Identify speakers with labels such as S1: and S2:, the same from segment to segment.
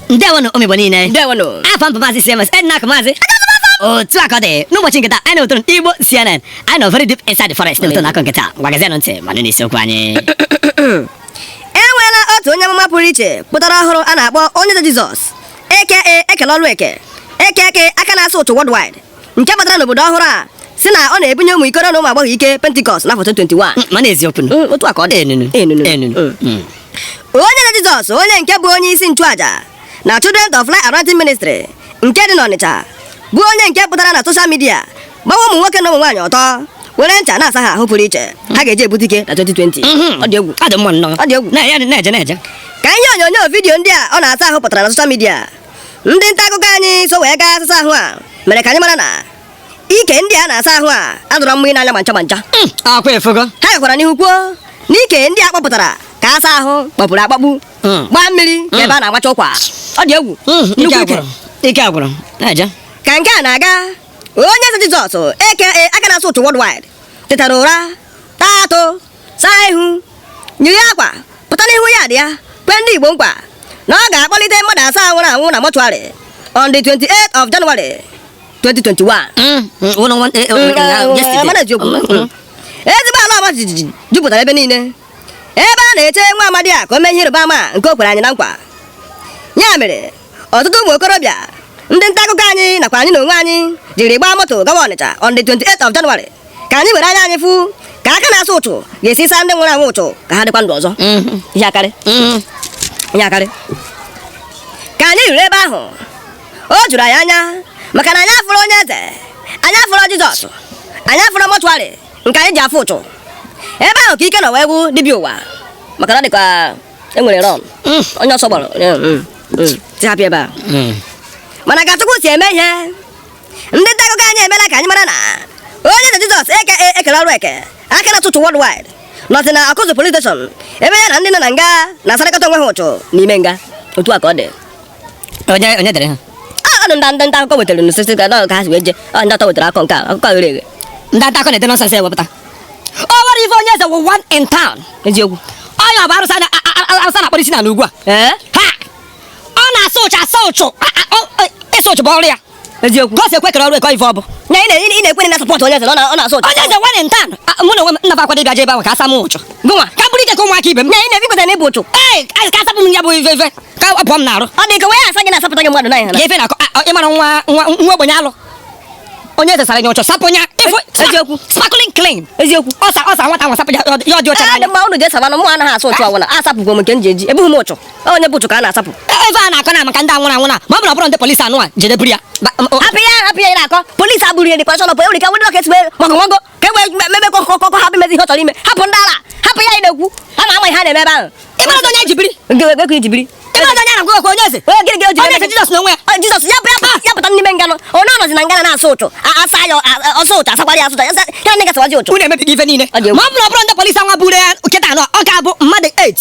S1: ndewonụ ụmụ igbo niile ndewonụ afa m bụ
S2: maazị
S1: cms ednak maazị otu a ka ọ dị n'ụbọchị nke taa anyị na ụtụrụ igbo cnn anyị nọ very deep inside the forest n'ụtụrụ akụkọ nke taa gwagazienụ ntị ma nụ n'isiokwu
S2: anyị e nweela otu onye amụma pụrụ iche pụtara ọhụrụ a na-akpọ onye eze jizọs aka e kere ọrụ eke aka aka na-asa ụchụ worldwide nke batara n'obodo ọhụrụ a sị na ọ na-ebunye ụmụ ikoro na ụmụ agbọghọ ike pentikọst n'afọ 2021 mm, mana eziokwu
S1: mm, otu a ka ọ dị
S2: enunu enunu mm. onye eze jizọs onye nke bụ onye isi nchụaja na children of light anointing ministry nke dị n'ọnịcha bụ onye nke pụtara na soshal midia gbawa ụmụ nwoke na ụmụ nwaanyị ọtọ were ncha na-asa ha ahụ pụrụ iche ha ga-eji ebute ike na 2020 mm-hmm. ọ dị egwu ọ dị mma nnọọ ọ dị egwu
S1: na-eje
S2: na-eje
S1: ka ihe
S2: onyonyo vidiyo ndị a ọ na-asa ahụ pụtara na soshal midia ndị nta akụkọ anyị so wee gaa asịsa ahụ a mere ka anyị mara na ike ndị a na-asa ahụ a adịrọ mma n'anya ma ncha ma ncha hmm, akwa efugo
S1: ha gakwara n'ihu kwuo
S2: na ike ndị a kpọpụtara ka a saa ahụ kpọpuru akpọpu hmm. gbaa mmiri ka ebe a na-agbacha ụkwa ọ dị egwu nnukwu ike
S1: ike agwụrụ na-eje ka nke a na-aga
S2: onye eze Jizọs aka aka na-asa ụchụ worldwide tetara ụra taa atụ saa ihu yiri akwa pụta n'ihu yard ya kwee ndị Igbo nkwa na ọ ga-akpọlite mmadụ asaa nwụrụ anwụ na mọchụarị on the 28th of January 2021 mm, mm, mm, ezigbo ala ọma jijiji jupụtara ebe niile ebe a na-eche nwa amadi a ka o mee ihe ịrịba ama nke o kwere anyị na nkwa ya mere ọtụtụ ụmụ okorobịa ndị nta akụkọ anyị nakwa anyị na onwe anyị jiri gbaa moto gawa Ọnịcha on the 28th of January ka anyị were anya anyị fụ ka aka na-asa ụchụ ga-esi saa ndị nwụrụ anwụ ụchụ ka ha dịkwa ndụ ọzọ mm-hmm. ihe akarị mm-hmm. ihe akarị ka anyị ruru ebe ahụ o juru anyị anya maka na anyị afụrọ onye eze anyị afụrọ Jizọs anyị afụrọ mọchụarị nke anyị ji afụ ụchụ ebe ahụ ka ike nọ wee gwụ dibịa ụwa maka na dịka e nwere rọn mm. onye ọsọ gbara mm, mm, tihapịa ebe a mana ka Chukwu si eme ihe ndị nta akụkọ anyị emela ka anyị mara na onye eze Jizọs aka e kere ọrụ eke aka na-asa ụchụ worldwide nọzi na Awkuzu police station ebe ya na ndị nọ na nga na-asarịkọta onwe ha ụchụ n'ime nga otu a ka ọ dị onye
S1: onye dere ha ọ nụ ndị
S2: ndị akụkọ wetara n'osisi ka ka ha si wee je ọ ndị atọ wetara akọ nke a akụkọ ghere eghe ndị nta akụkọ na-ede
S1: nọnsensị ewepụta o nwere ife onye eze wụ one in town
S2: eziokwu onye ọ bụ
S1: arụsị na- a- a- a- arụsị na-akpọrọ isi n'ala ugbu a ee ha ọ na-asa ụchụ asa ụchụ a- a- ọ- ịsa ụchụ bụ ọrụ ya eziokwu ka o si ekwe
S2: kere ọrụ eke
S1: ife ọ bụ na ị na- ị na-ekwere
S2: na sọpọtụ onye eze na ọ na- ọ na-asa ụchụ onye eze one in town
S1: mụ n'onwe m nnafa akwado ịbịa je ebe ahụ ka a saa m ụchụ gụnwa ka m bụrụ ike ka
S2: ụmụaka ibe
S1: m na ị na-ebikweta na ị bu ụchụ
S2: ee a- ka a sapụ m ya
S1: bụ ife ife ka ọ pụọ m n'arụ ọ dị ka wee asa gị
S2: na-asapụta gị mmadụ n'anya ya ife na-akọ a- ị
S1: mara nwa nwa nwa ogbenye alụ onye eze sara ya ụchụ sapụ ya ịfụ eziokwu sparkling
S2: clean
S1: eziokwu ọ saa ọ
S2: saa nwata nwa sapụ
S1: ya ọ dị- ya ọ dị ọcha ya n'anya dị mma unu ga-esabanụ mụ
S2: anaghị asa ụchụ ọbụla asapụgwo m nke m ji eji ebughị m ụchụ onye bu ụchụ ka a na-asapụ ebe a na-akọ na
S1: maka ndị a nwụrụ anwụ na ma ọ bụrụ ọ bụrụ ndị polisi anụ a jedeburu ya hapụ ya hapụ
S2: ya na-akọ polisi agburu ya dịkwa chọlọpụ enwere ike nwere ọka esigbe maka nwago ka e wee mebe kọkọkọ ha bụ imezi ihe ọ chọrọ ime hapụ ndị ala hapụ ya ị na-ekwu ha na-ama ihe ha na-eme ebe ahụ ị mara onye
S1: jibiri gịnị
S2: jibiri onye
S1: eze onye eze jizọs n'onwe ya jizọs ya ya
S2: pụta n'ime nga nụ onye ọ nọzi na nga na na-asa ụchụ asa ya ọ saa ụchụ asakwara ya asa ụchụ ya na-aga sawazi ụchụ unu emebiga ife niile
S1: ma ọ bụrụ ọ bụrụ ndị polisi anwa buru ya kịta na ọ ga-abụ mmadụ 8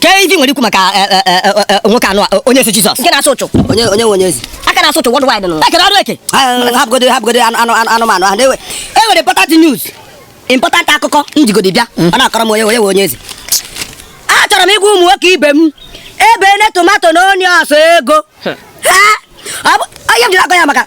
S1: kee ife i nwere ikwu maka eh, eh, eh, nwoke anụ onye eze Jizọs nke na-asa ụchụ onye
S2: onye onye eze
S1: aka na-asa ụchụ worldwide nọ
S2: e kere ọrụ eke
S1: hapụgodo hapụgodo anụmanụ ahụ e nwere important news important akụkọ m jigodi bịa mm. ọ na-akọrọ m onye onye onye eze achọrọ m ịgwa ụmụ nwoke ibe m ebe ne tomato na onions ego onye m jiri akọ ya maka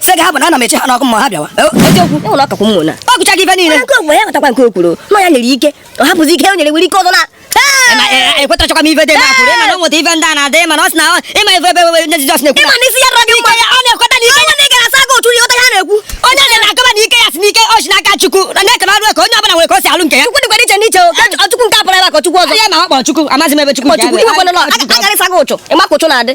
S2: sị gị ha bụ na ana m eche ha
S1: n'ọkụ ma ha
S2: bịawa ọ gụcha gị ife
S1: niile
S2: ya nwere ike ọ hapụzi ike o nwere nwere ike ọzọ na
S1: ekwetachakwa m ife dị na-akwụrụ ịma na o nweta ife ndị a na-adị ịma na ọ sị na ịma ife ebe ebe ndị Jizọs na-ekwu ịma na isi ya rọgị
S2: mma ọ na-ekweta na ike ya na
S1: ị gara asa
S2: gị otu ihe ya na-ekwu onye na-akọba
S1: na ike ya si n'ike o si n'aka Chukwu na na e kele ọrụ eke onye ọbụla nwere ka o si alụ nke ya Chukwu dịkwara iche n'iche
S2: Chukwu nke apụrụ ebe a ka Chukwu ọzọ ya ma ọ kpọ
S1: Chukwu amazi
S2: m ebe
S1: Chukwu
S2: nke ya
S1: na-adị